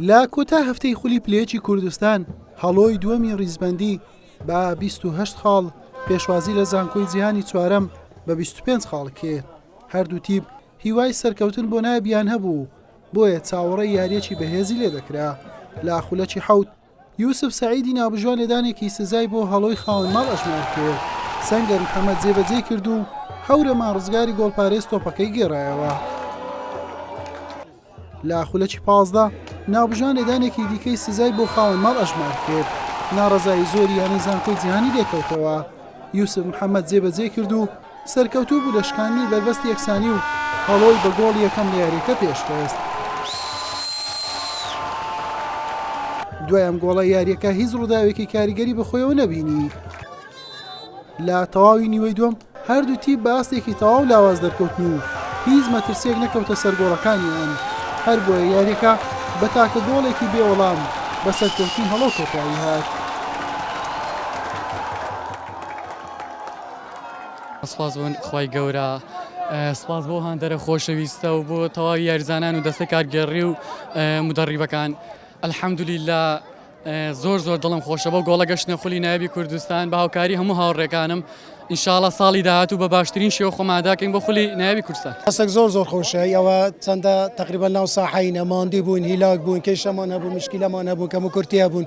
لە کۆتا هەفتەی خولی پلێجی کوردستان هەڵۆی دووەمی ڕیزبەندی بە 28 خاڵ پێشوازی لە زانکۆی جیهانی چوارەم بە 25 خاڵ کرد هەردوو تیپ هیوای سەرکەوتن بۆ نابیان هەبوو بۆیە چاوەڕێی یاریەکی بەهێزی لێ دەکرا لە خولەکی حەوت یوسف سەعیدی ناوبژیوان لێدانێکی سزای بۆ هەڵۆی خاوەن ماڵ ئەژمار کرد، سەنگەر محەمەد جێبەجێی کرد و هەورەمان ڕزگاری گۆڵپارێز تۆپەکەی گێڕایەوە. لە خولەکی پازدە ناوبژیوان لێدانێکی دیکەی سزای بۆ خاوەن ماڵ ئەژمار کرد، ناڕەزایی زۆری یانەی زانکۆی جیهانی لێکەوتەوە، یوسف محەمەد جێبەجێی کرد و سەرکەوتوو بوو لە شکاندنی بەربەستی یەکسانی و هەڵۆی بە گۆڵی یەکەم لە یارییەکە پێشخست. دوای ئەم گۆڵە یارییەکە هیچ ڕووداوێکی کاریگەری بەخۆیەوە نەبینی. لە تەواوی نیوەی دووەم هەردوو تیپ بە ئاستێکی تەواو لاواز دەرکەوتن و هیچ مەترسییەک نەکەوتە سەر گۆڵەکانیان، هەربۆیە یارییەکە بە تاکە گۆڵێکی بێ وەڵام بە سەرکەوتنی هەڵۆ کۆتایی هات. سپاس بۆ خوای گەورە سپاس بۆ هاندەرە خۆشەویستە و بۆ تەواوی یاریزانان و دەستە کارگێڕی و مدەڕیبەکان ئەلحەمدولیلا زۆر زۆر دڵم خۆشە بۆ گۆڵە گەشتنە خولی نایبی کوردستان بە هاوکاری هەموو هاوڕێکانم ئینشاالله ساڵی داهات و بە باشترین شێوە خۆماداکەین بۆ خولی نایبی کورسە هەسەک زۆر زۆر خۆشە ئەوە چەندە تقریبا ناو ساحینە ماندی بووین هیلاک بوون کێشەمان هەبوو مشکیلەمان هەبوو کەم و کورتیا بوون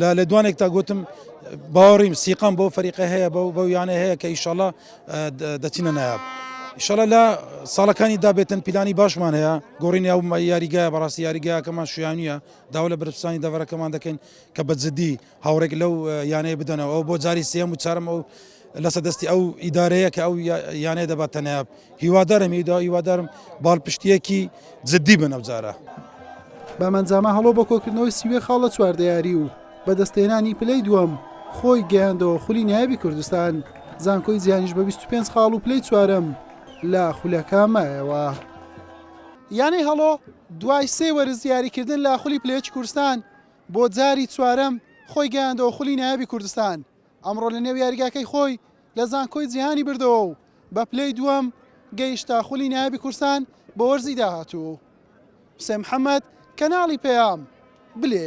لە لێدوانێکدا گوتم باوەڕیم سیقەم بەو فەریقە هەیە بەو بەو یانە هەیە کە ئیشەڵا دەچینە نایاب. ئیشەڵە لە ساڵەکانی دابێتن پیلانی باشمان هەیە گۆڕینی ئەو یاریگایە بەڕاستی یاریگایەکەمان شویانە داوا لە برپسانی دەڤەرەکەمان دەکەین کە بە جددی هاوڕێک لەو یانەیە بدەنەوە ئەو بۆ جاری سێم و چارم ئەو لەسە دەستی ئەو ئیدارەیە کە ئەو یانەیە دەباتەنایاب. هیوادارم هیدا هیوادارم باڵپشتیەکی جددی بن ئەوجارە. بەمەنجامە هەڵۆ بە کۆکردنەوەی سیوێ خاڵ لە چواردەیاری و بەدەستێنانی پلەی دووەم خۆی گەیاندەوە خولی نایابی کوردستان زانکۆی جیهانیش بە 25 خاڵ و پلەی چوارم لە خولەکە مایەوە. یانەی هەڵۆ دوای سێ وەرز یاریکردن لە خولی پلەیەکی کوردستان بۆ جاری چوارەم خۆی گەیاندەوە خولی نایابی کوردستان ئەمڕۆ لەنێو یاریگاکەی خۆی لە زانکۆی جیهانی بردەوە و بە پلەی دووەم گەیشتە خولی نایابی کورسان بۆ وەرزی داهاتوو. حوسێن محەمەد، کەناڵی پەیام، بلێ.